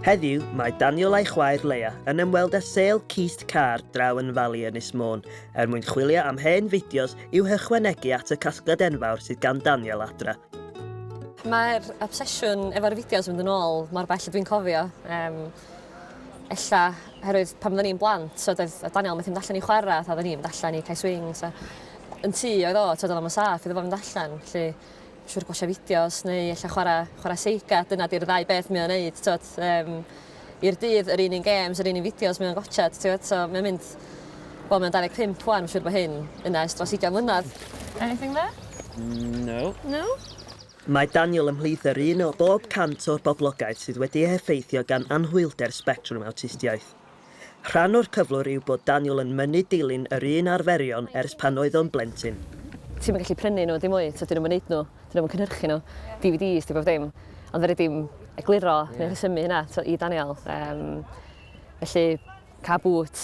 Heddiw, mae Daniel a'i chwaer Leia yn ymweld â sêl cist car draw yn Fali Ynys Môn er mwyn chwilio am hen fideos i'w hychwanegu at y casgliad enfawr sydd gan Daniel adra. Mae'r obsesiwn efo'r fideos yn mynd yn ôl mor bell a dwi'n cofio. Um, ella herwydd pan oedden ni'n blant so oedd oedd Daniel methu mynd allan i chwarae a oedden ni'n mynd allan i cae swings a yn tŷ oedd o so oedd o'n saff iddo fo fynd allan felly siŵr gwasio fideos neu ella chwarae chwarae seiga dyna 'di'r ddau beth mae o'n neud t'od yym i'r dydd yr un un gêms yr un un fideos mae o'n gwatsiad t'od so mae'n mynd wel mae'n 25 ŵan siŵr bo hyn yna ers dros ugian mlynadd. Anything there? No. No? Mae Daniel ymhlith yr un o bob 100 o'r boblogaeth sydd wedi ei heffeithio gan anhwylder sbectrwm awtistiaeth. Rhan o'r cyflwr yw bod Daniel yn mynnu dilyn yr un arferion ers pan oedd o'n blentyn. Ti'm yn gallu prynu nhw dim mwy, tibod, 'dyn nhw'm yn neud nhw, 'dyn nhw'm yn cynhyrchu nhw, DVDs 'di bob dim. Ond fedri di'm egluro neu rhesymu hynna, tibod, i Daniel. Yym, felly, car bŵt.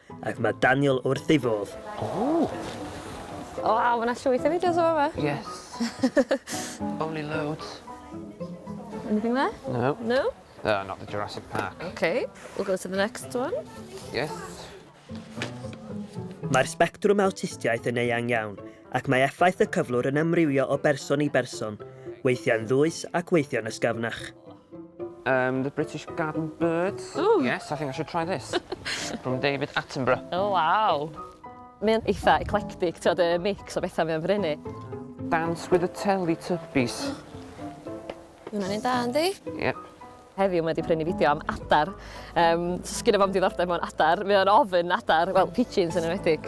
Ac mae Daniel wrth ei fodd. Ooh! Waw, mae 'na llwyth o fideos o fama. Yes. Only loads. Anything there? No. No? Oh, not the Jurassic Park. Ok, we'll go to the next one. Yes. Mae'r sbectrwm awtistiaeth yn eang iawn, ac mae effaith y cyflwr yn amrywio o berson i berson, weithiau'n ddwys ac weithiau'n ysgafnach. Um, the British Garden Birds. Ooh. Yes, I think I should try this. From David Attenborough. Oh, wow. Mae'n eitha eclectic, ti'n y mix o bethau mae'n brynu. Dance with the Teletubbies. Hwna'n un da, yndi? Yep. Heddiw mae wedi prynu fideo am adar. Um, so sgyn o fam diddordeb mewn adar. Mae o'n ofyn adar, wel, pigeons yn enwedig.